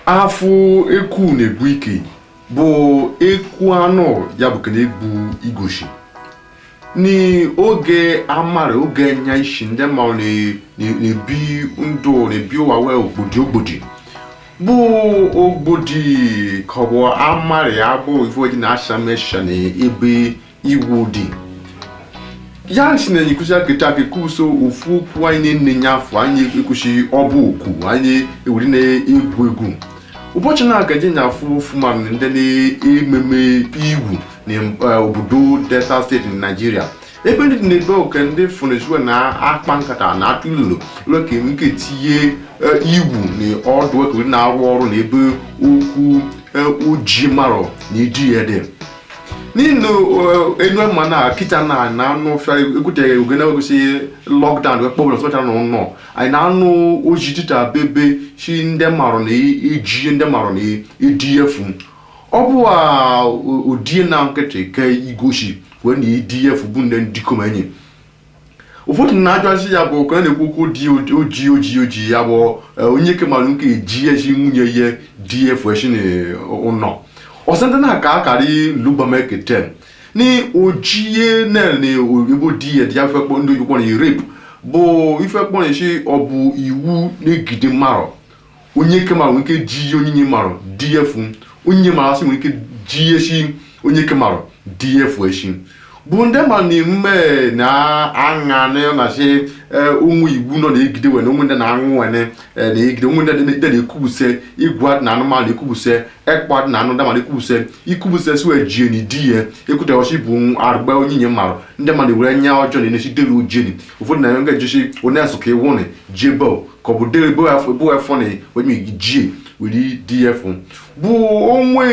afụ eku na-egbu ike bụ eku anụ ya bụ kene egbu igoshi n'oge amara oge nya ishi ndị ma ọ na- na- na-ebi ndụ na-ebi ụwa wee ogbodi ogbodi bụ ogbodi ka ọ bụ amarị ya bụ ife oji na-acha mesha na ebe iwu dị ya si na anyị kwụsị akịta akị kwuso ofu okwu anyị na-enye nye afọ anyị ekwuchighị ọbụ okwu anyị ewere na-egwu egwu ụbọchị na-agaje enya afụ ofuma ndị na-ememe iwu na eh, obodo delta steeti na naijiria ebe ndị dị n'ebe oke ndị fọnezue na-akpa nkata na atụ ilolo ka enwe ike tinye eh, iwu na ọdụ ekewere na-arụ ọrụ na ebe okwu eh, iji marụ na iji ya dị n'inu eh, enu ama na kita na na anụ fịa ekwuteghị oge na-egosi lockdown wee kpọbụla sọcha na ụnọ anyị na-anụ ozi dịta bebe si ndị marụ na-eji ndị marụ na-edi efu ọ bụ a odie na nkịtị ka igosi wee na-edi efu bụ ndị ndịkom enyi ụfọdụ na-ajụazị ya bụ ka a na-ekwu okwu dị oji oji oji ya bụ eh, onyeke marụ nwe ike eji eshi nwunye ya di efu eshi n'ụnọ ọsọ ndị na-aka akarị lubameketen na ojie na-ele ebo di ya dị ife kpọ ndị oyibo na rape bụ ife kpọrọ eshi ọ bụ iwu na-egide marụ onyeke marụ nwe ike jie onyinye marụ di ya efu onyinye marụ asị nwe ike jie eshi onyeke marụ di ya efu eshi bụ ndị ma na emume na aṅa na na-achị ụmụ iwu nọ na-egide wene ụmụ ndị na-aṅụ wene eh, na-egide ụmụ ndị dị- ndị na-ekwubuse igwe adị na anụmanụ ekwubuse ekpọ adị na anụ ndị mmadụ ekwubuse ikwubuse si wee jie na di ya ekwuteghọchi bụ arụgba onyinye marụ ndị mmadụ were enya ọjọọ na-enesi dere ojeni ụfọdụ na nga jisi onye asụ ka ịwụ na jebel ka ọ bụ dere ebe afọ ebe afọ na onye gị jie were di efu bụ onwe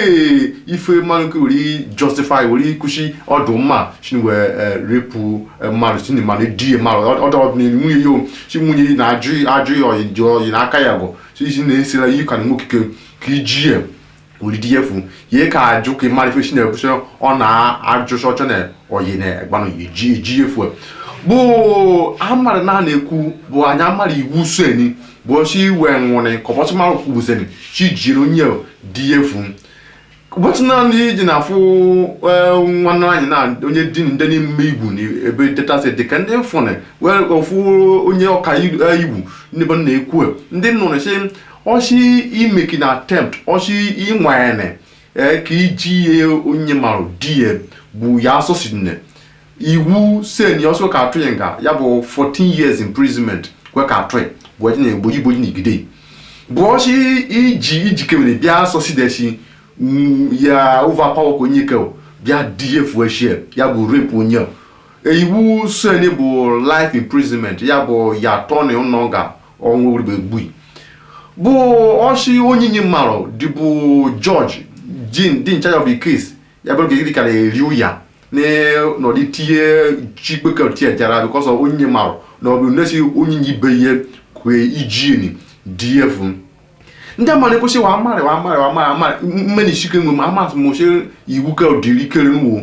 ife marụ nwe ike were justify were kwụsị ọdụ mma shi ni wee eh, repụ eh, mmadụ shi ni mmadụ die mmadụ ọdụ ọdụ na nwunye ya o chi nwunye ya na-ajụ ajụ ya ọyị dị ọyị n'aka ya bụ chi isi na-esila ihe ka na nwoke ka ijie olidi ya efu ye ka ajụ ke marụ ife shi ne kushe ọ na-ajụ shi ọ chọne oyi ne egbanu ye ji eji ya efu bụ amarị na na eku bụ anyị amarị iwu so eni bụ shi we nwone ko bo ma ku bu seni shi jiri onye di ya efu ụbọchị naanị iji na-afụ nwanne anyị na onye di ndị na-eme iwu na ebe delta steeti dị ka ndị fụnị wee ofu onye ọka iwu ndị bụ na-ekwu ndị nụrụ sị ọ sị imeki na attempt ọ sị ịnwanyere ee ka iji ihe onye mara di ya bụ ya asụsụ nne iwu sen ya ọsọ ka a tụ ya nga ya bụ 14 years imprisonment kwe ka atụ ya bụ ọjị na egboji igboji na igide bụ ọsị iji ijikere bịa asọsi desi mm, ya overpower ka onyeke bịa di efu eshie ya bụ rape onye iwu sen bụ life imprisonment ya bụ ya atọ na ụnọ nga ọnwụ ribe gbui bụ ọ sị onyinye mmarụ dịbụ judge dị in charge of the case ya bụrụ ka iri kara eri ụya n'ọdị tinye chigbeke tie jara because onyinye mmarụ na ọbụ nesi onyinye ibe ihe kwee ijini dị efu ndị mmadụ ekwesị wa amarị wa amarị wa amarị amarị mmeni chike nwe ma amasị m oche iwu ka dịrị ikere n'ụwa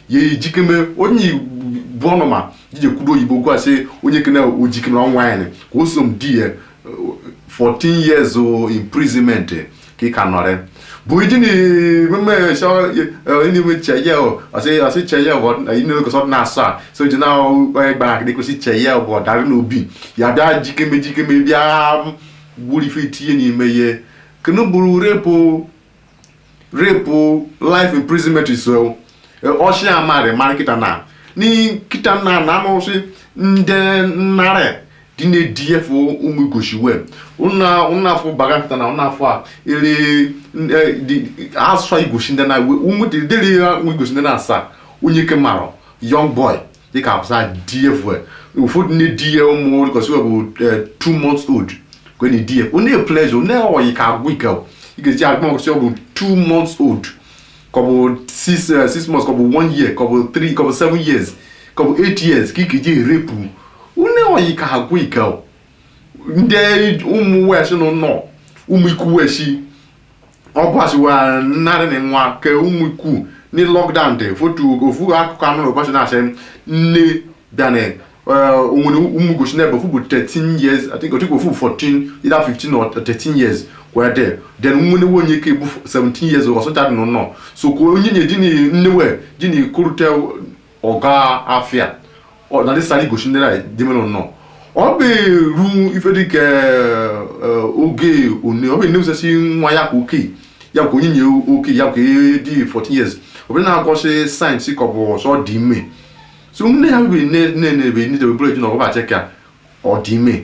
ya ejikeme onye bụ ọnụma jije kwudo oyibo gwa sị onye kene ojikeme na ọnwa anyị ka o so m di ya 14 years imprisonment ka ị ka nọrị bụ iji na ememe n'ime cheye ọsị cheye inekọsọ na asaa so ji na gbara akịdị kwesị cheye bụ ọdara n'obi ya bịa jikeme jikeme bịa gburu ife tinye n'ime ihe kenu bụrụ rape rape life imprisonment is ọ sị a marị marị kịta na kịta na na anụsị ndị nnarị dị na-ediye fụ ụmụ igosi wee ụnụ afọ baga kịta na ụnụ afọ a ere asụsụ igosi ndị na ụmụ dịrị ya ụmụ igosi ndị na asaa onyeke mmarụ young boy dịka abụsa di efu ụfọdụ na-edi ya ụmụ igosi bụ eh, two months old kwe na-edi ya onye pleasure onye ọyị ka agwụ ike ọ. ị ga-eji agụ ọgụsị ọ bụ two months old ka ọ bụ six eh, six months ka ọ bụ one year ka ọ bụ three ka ọ bụ seven years ka ọ bụ eight years ka ị ga-eji e-rape onye ọyị ka agwụ ike ọ. ndị ụmụ weshi nọ nọ ụmụ ikwu weshi ọ gbasiwa narị na nwa ka ụmụ ikwu ni lockdown dị fotu ofu akụkọ a nụ na ụbọchị na-asị nne bịana onwere ụmụ igosi n'ebe ofu bụ 13 years i think otu ofu 14 either 15 or 13 years wee dị then nwere nwa onyeke bụ 17 years or something n'ụlọ so ka onyinye di na nne wee di na ikorute ọ ga afịa ọ na dịsara igosi ndị na dị ime ụnọ ọ bụ eru ife dịka oge one ọ bụ na-emesasị nwa ya ka oke ya ka onyinye oke ya ka dị 14 years ọ bụ na-egosi signs ka ọ bụ o so dị ime so nne ya bụ nne nne na-ebe nne debe bụrụ eji na ọgwụ ba check ya ọ dị ime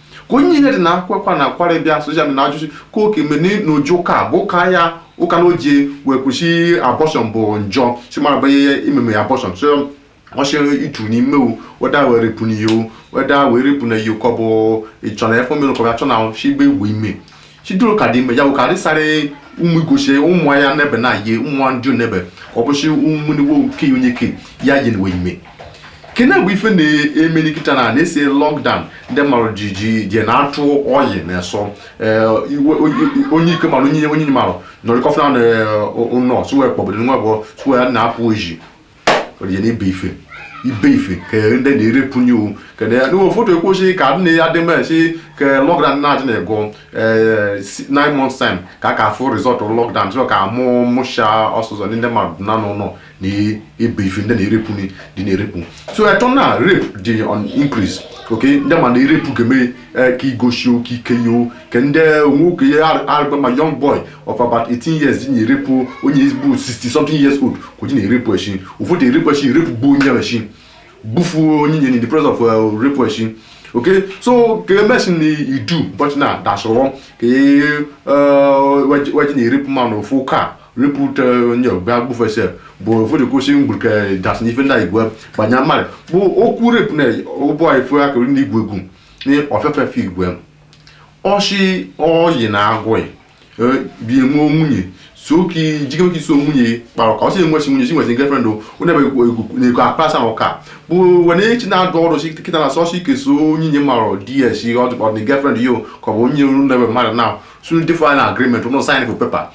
ka onyinye dị na-akwa akwa na-akwarị bịa soja na-ajụ sị ka oke mene na o je ụka bụ ụka ya ụka na o je wee kwusi abortion bụ njọ sị mmarụ banye ya imeme abortion so ọchịrị itu n'ime o whether wee rape n'iyo whether wee rape na iyo ka ọ bụ ịchọ na efe omenụ ka ọ ga-achọ na shigbe egbe ime chidoro ka dị ime ya bụ ka dịsara ụmụ igosi ụmụ ya nebe na ye ụmụ ndị nebe ka ọ bụsị ụmụ nigbo nke onye ke ya yi nwe ime kene bụ ife na-emeni kịta na na-esi lockdown ndị mmadụ ji ji je na-atụ oyi na-esọ ee, iwe- onye- onye ike mmadụ onye onye mmadụ nọrịkọfụna na ụlọ sụwe kpọbụdị nwa bụ sụwe ya na-apụ oji ọdịje na ibe ife ibe ife ka ndị na-erepụ nye owu kedu ya n'ụwa ụfọdụ ekwochi ka nne ya dị mma si ka lockdown na-adị na-ego eh, si- nine months time ka a ka afụ result lockdown chọrọ ka mụ mụcha ọsụsọ ndị mmadụ na n'ụlọ na ibe ife ndị na-erepụ ni- dị na-erepụ so eto na rape dị on increase okay ndị mmadụ na-erepụ ga-eme eh, ka igosi oke ike yo ka ndị nwoke ya arịba a young boy of about 18 years ji na-erepụ onye bụ 60 something years old ka o ji na-erepụ echi ụfọdụ erepụ echi erepụ gbuo onye ahụ echi gbufuo onye nye in the process of uh, rape echi okay so ka emesin na idu ụbọchị na dasụrụ ka e uh, waji- waji na-erepụ mmadụ ofu ka repụ ute onye ọbịa gbufesi bụ ụfọdụ kwụsị mgburu ka dasị n'ife ndị igwe banye mmadụ bụ okwu repụ na ụbọ ife akụrụ ndị igwe egwu na ọfefe fe igwe ọ sị oyi na-agụ ị e, bi enwe nwunye so ka jike oke iso nwunye kpara ka ọ sị enwechi nwunye si nwesị girlfriend o onye na-ego akpasa ahụ ka bụ were echi na-adụ ọrụ si kịta na sọsọ ike so onye nye mmadụ ds ọ dị girlfriend yo ka ọ bụ onye ru na mmadụ na sunu dịfụ na agreement unu sign for paper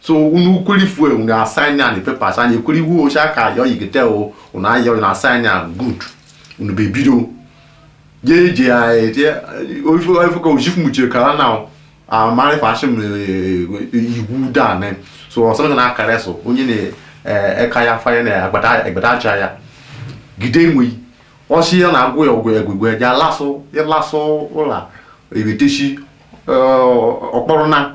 so unu kweli fue unu a-sign ya na papers anyị ekweli iwu ocha ka ya oyi gete o unu anya unu a-sign ya good unu be bido je je ya eje oifu oifu ka ojifu muche kala na amari fashi m iwu da ne so ọsọ na akara so onye na eh, eka ya fanye na agbada agbada aja ya gide enwe ọ sị ya na-agwụ ya ọgwụ egwegwe ya lasụ ya lasụ ụla ebetechi ọkpọrọ na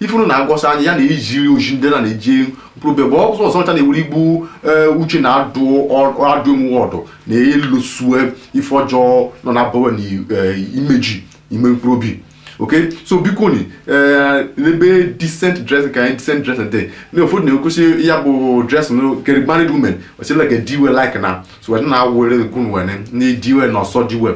ife unu na-egosi anyị ya na ijiri oji ndị na na-eji mkpụrụ bịa bụ ọzọ ọzọ ọcha na-ewere igbu ee, uche na adụ ọ- adụ emume ọdụ na ịlụsue ife ọjọọ nọ na bawa na eh, imeji ime mkpụrụ obi okay so biko ni eh, n'ebe decent dress ka anyị decent dress dị na ụfọdụ na-ekwusi ya bụ dress no kere married women ọ sị like di we like na so wee na-a-wear gown wene na di we na ọ sọ di we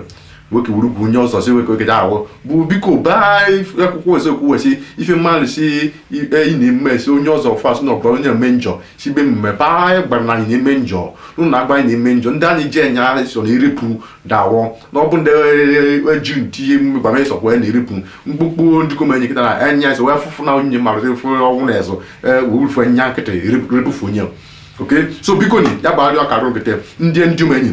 nwoke wuru bụ onye ọzọ si nwoke oge ahụ bụ biko baa akwụkwọ eziokwu wesi ife mmadụ si ikpe ị na-eme si onye ọzọ fas na ọbara onye eme njọ si be mme baa anyị gbara na anyị na-eme njọ n'ụlọ agba anyị na-eme njọ ndị anyị ji enye anyị so na irepụ dawọ na ọ bụ ndị eji ntinye emume gbara ịsọ kwee na irepụ mkpụkpụ ndị kom enye kịta na enye anyị so wee fụfụ na onye mmadụ fụ ọnwụ na ezụ wewufu nya nkịtị repụfu onye okay so biko ni ya bụ arịọ karịa nkịtị ndị ndị ụmụ enyi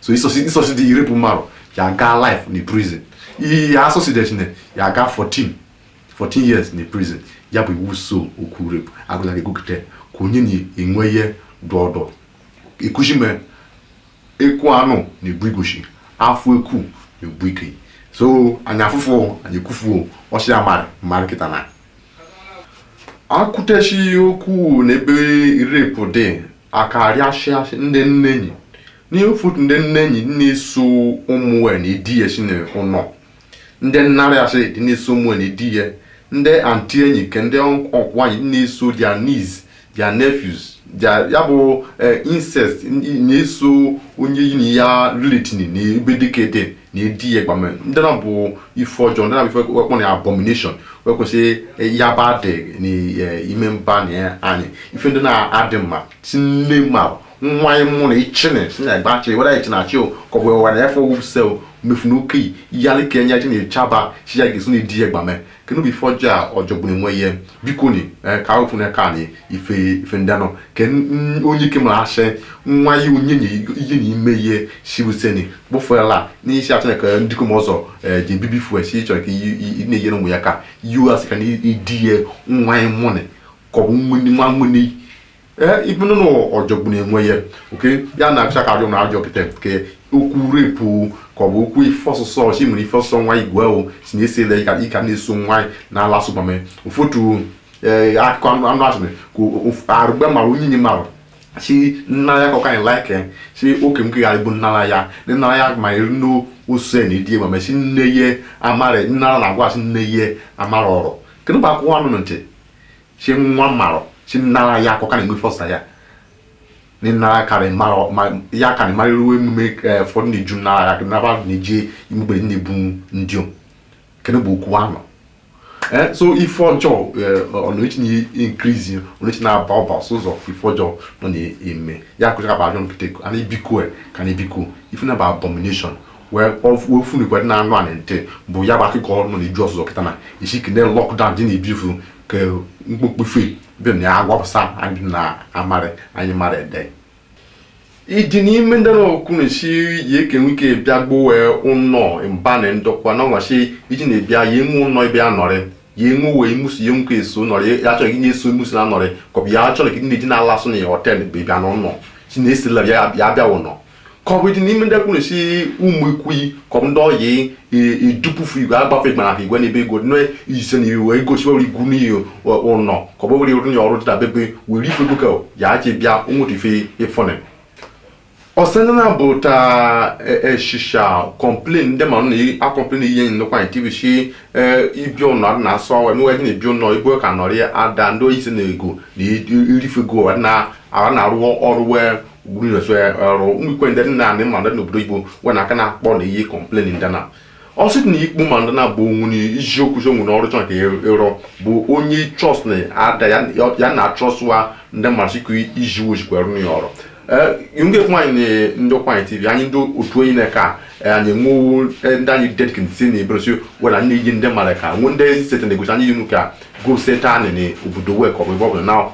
so ị succeedị rape mmadụ ya gaa life na prison ihe asucceedechi ne ya gaa 14 years na prison ya bụ iwu so okwu rape agụla gị gụgide ka onye na-enwe ihe dọdọ ekuzi me ekwu anụ na-egbu igoshi afụ ekwu na-egbu ike so anyị afụfụ anyị ekwufu ọ sị ya mara mara kịta na akụtechi okwu n'ebe rape dị akarịasịasị ndị nnenyi ụfọdụ ndị nnenyi na-eso ụmụ we na-edi ya si na ụnọ ndị nnarị asị dị na-eso ụmụ we na-edi ya ndị aunty enyi ke ndị uncle enyi na-eso their niece their nephews their ya bụ eh, incest n- na-eso onye yi na ya relating na ebe dị kete na edi ya gbame ndị na bụ ife ọjọọ ndị na bụ ife we kpọ na abomination we ekwesị ya ba dị n'ime mba na anyị ife ndị na adị mma si nne ma nwa ya mụnị ichene si na gba achị were ichene achị o ka ọ bụ were ya fọwụ sel mefu na oke yalị ka enye ji na-echaba si ya ga-esi na edi ya gbame kenu bụ ife ọjọọ ọ jọgburu onwe ya biko ni eh, ka ofu na ka ni ife ife ndị anọ ke n- onye ike mara asị nwa ya onye na ihe na ime ihe sibuseni kpụfụrala n'isi atụ ka ndịkom ọzọ eh, ji ebibi fuel si chọrọ ka i- i- i na-enyere ụmụ ya ka us ka na idi ya nwa ya mụnị ka ọ bụ nwa nwa nwa ee ibu nọ ọ jọgbunụ onwe ya okay ya na-acha ka ajọ na ajọ kịta ke okwu rape ka ọ bụ okwu ife ọsụsọ ọchị mere ife ọsụsọ nwa igwe ahụ si na-esi ele ịka ịka na-eso nwaanyị na-ala asụ gbame ụfọdụ ee akụkọ anụ anụ asụme ka of- arụgbe mara onye nye mara si nna ya ka ọ kaghị like si oke m kegharị bụ nnara ya na nnara ya ma eri nne ose na idie ma mesi nne ye amara nnara na-agwa asị nne ye amara ọrụ kenu bụ akụkọ anụ ntị si nwa mara si nara ya akọ ka na-enwe fọsa ya ni nara kari mara ya kari mara iru emume eh, fọ ni ju nara ya naba ni je imugbe ni bu ndio kene bu okwu ano eh so ife ọjọ ọ na-echi na increase ọ na-echi na aba ọba ọsọ ụzọ ife ọjọ nọ na eme ya akụcha ka ba ajọ kịta eko ana biko e ka na biko ife na bụ abomination wee ofunigwe na anụ anị ntị bụ ya bụ akụkọ ọrụ na iju ọzụzụ kịta na isi kene lockdown dị na ibifu ka mkpokpu fe dị na ya agwapụsa anyị na amarị anyị mara ede iji n'ime ndị na-ekwu na-esi ya ke nwike bịa gbowe ụnọ mba na ndokwa na ọnwachi iji na-ebịa ya enwe ụnọ ebe ya nọrị ya enwe uwe imusi ya nwoke eso nọrị ya achọrọ gị na-eso imusi na nọrị ka ọ bụ ya achọrọ gị na-eji na-ala asụ na ya hotel bụ ịbịa n'ụnọ si na-esila ya bịa bịa ụnọ ka ọ bụ ịdị n'ime ndị kwuru si ụmụ ikwuyi ka ọ bụ ndị ọyị idupufu igwe agbafe igwe ahụ igwe n'ebe ego nne ise na iwe egosi ọrụ igwu n'iyi ụlọ ka ọ bụ were onye ọrụ dịta bebe were ife ego ka ya ji bịa onwere ife ịfọnị ọsana bụ ta eshisha complain ndị mara na-acomplain ihe n'Ụkwụanị tv si ibi ụlọ na asọ ọwa emewe na ibi ụlọ igwe ka nọrị ada ndị oyi si na ego na irifego na ara na-arụ ọrụ wee gburu na so ya arụ ụmụ ikwe ndị nna anị ma ndị n'obodo igbo nwe na aka na-akpọ na iyi complain ndị na ọ sị na ikpu ma ndị na-abụ onwu na isiokwu so nwere ọrụ chọnka ịrụ bụ onye trust na ada ya ya na trust wa ndị mmasị ka iji ojikwa rụ ya ọrụ yunge Ụkwụanị na ndị Ụkwụanị tv anyị ndị otu onye na-eke a eh, anyị nwewo eh, ndị anyị dedkin si na ebere si wena nne yi ndị mara ka nwe ndị sete na-egosi anyị yinu ka go sete anị na obodo wek ọ bụ ebe ọ bụla na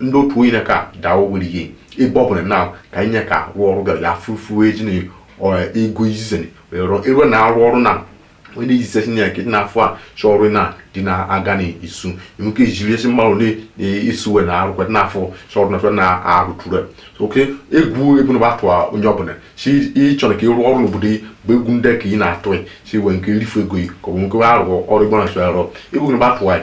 ndị otu onye ka daa ogwere ihe ebe ọ bụla na ka anyị nye ka rụọ ọrụ gara ya fufuo eji na ọ- ego izize ni wee rụọ ero na arụ ọrụ na onye na-ezize si na nkịtị na-afụ a chọ ọrụ na dị na-aga n'isu nwoke ejiri esi mmadụ na-esuwe na arụ kweta na-afụ chọ ọrụ na chọ na arụ tụrụ oke egwu egwu na atụ onye ọbụla si ịchọ na ka ịrụ ọrụ n'obodo gị bụ egwu ndị ka ị na-atụ si wee nke rifu ego gị ka ọ bụ nke arụ ọrụ igbo na-achọ arụ egwu na atụ anyị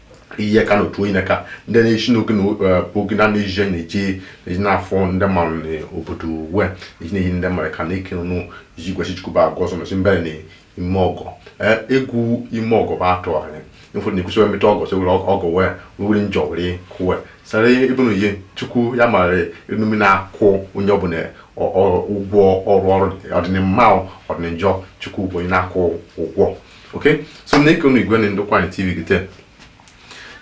ihe ka n'otu onye ka ndị na-esi n'oge na oge na na-eji na-eji eji n'afọ ndị mmadụ na obodo we eji na-eyi ndị mmadụ ka na-eke nụ iji gwesị chikuba agwa ọzọ mesi mbere na ime ọgọ egwu ime ọgọ bụ atụ anyị ịfụ na ekwesịrị emeta ọgọ sị were ọgọ wee were njọ were kụwe sara ebe na ihe chukwu ya mara enume na-akwụ onye ọbụla ụgwọ ọrụ ọrụ ọdịnimma ọdịninjọ chukwu bụ onye na-akwụ ụgwọ okay so ne ko mi gwani ndị Ụkwụanị tv kite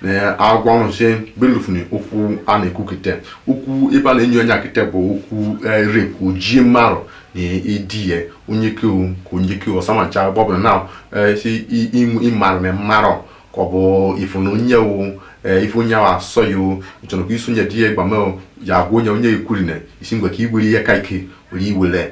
ne agwa nụ se beluf ni oku ana eku kite oku iba na enyo anya kite bo oku rape o ji maro ni edie onye ke o ko onye ke o sama cha bob na eh si imu imaro me maro ko bo ifunu onye o ife onye ahụ asọ ya o ịchọrọ ka isonye di ya gbama ya agwa onye onye ekwuri na isi ngwa ka igbere ihe ka ike were iwere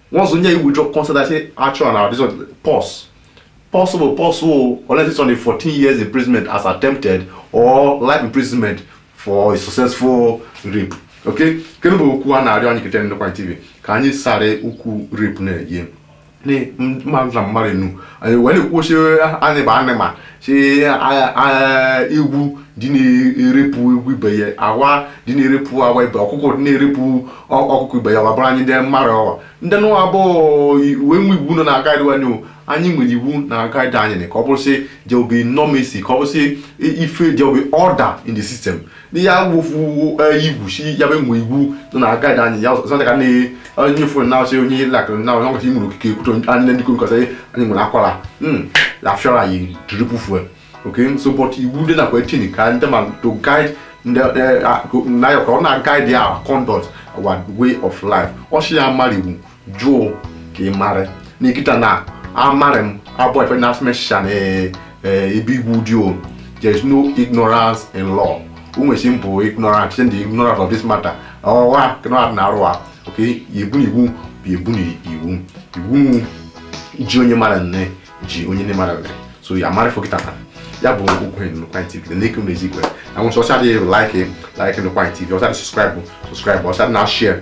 once nye withdraw consent i say action and our this one pause pause bụ pause o unless ị chọnị 14 years imprisonment as attempted or life imprisonment for a successful rape okay kenụ bụ okwu a na-arịọ anyị kete n'Ụkwụanị tv ka anyị sara okwu rape na-eyi mmadụ na mmadụ enu anyị wee na-ekwuchi anyị bụ animal si ewu dị na-erepụ ewu ibe ya awa dị na-erepụ awa ibe ọkụkọ dị na-erepụ ọkụkọ ibe ya wa bụrụ anyị ndị mmadụ ọwa ndị nụwa bụ uwe nwe iwu nọ na agaịdị anyị anyị nwere iwu na agaịdị anyị ka ọ bụrụsị there will be normacy ka ọ bụrụsị ife there will be order in the system n'ihe awụfu igwuchi ya bụ e nwe iwu nọ na aka anyị ya ọzọ ka na onye fon na ọsị onye lak na onye ọkọchị nwere ikike ikwutọ anyị ndị kwuru nkọsị anyị nwere akwara afịọrọ anyị triple fuel okay so but iwu dị nakwa etin ka ndị ma to guide ndị na ya ka ọ na-aguide our conduct our way of life ọ sị ya mara iwu jụọ ka ị mara na kịta na amara m abụrọ ife na asụmesha na eh, eh, ebe iwu dị o there is no ignorance in law ụmụesi m bụ ignorant site the ignorance of this matter ọwa ignorant na arụ a okay iwu na iwu bụ iwu na iwu iwu ji onye mara nne ji onye nne mara nne so ya mara fokita na ya bụ okwu enyi n'ụkwa tv na eke mezi igwe na nwụsị ọcha dị like like n'ụkwa tv ọcha dị subscribe subscribe ọcha dị na share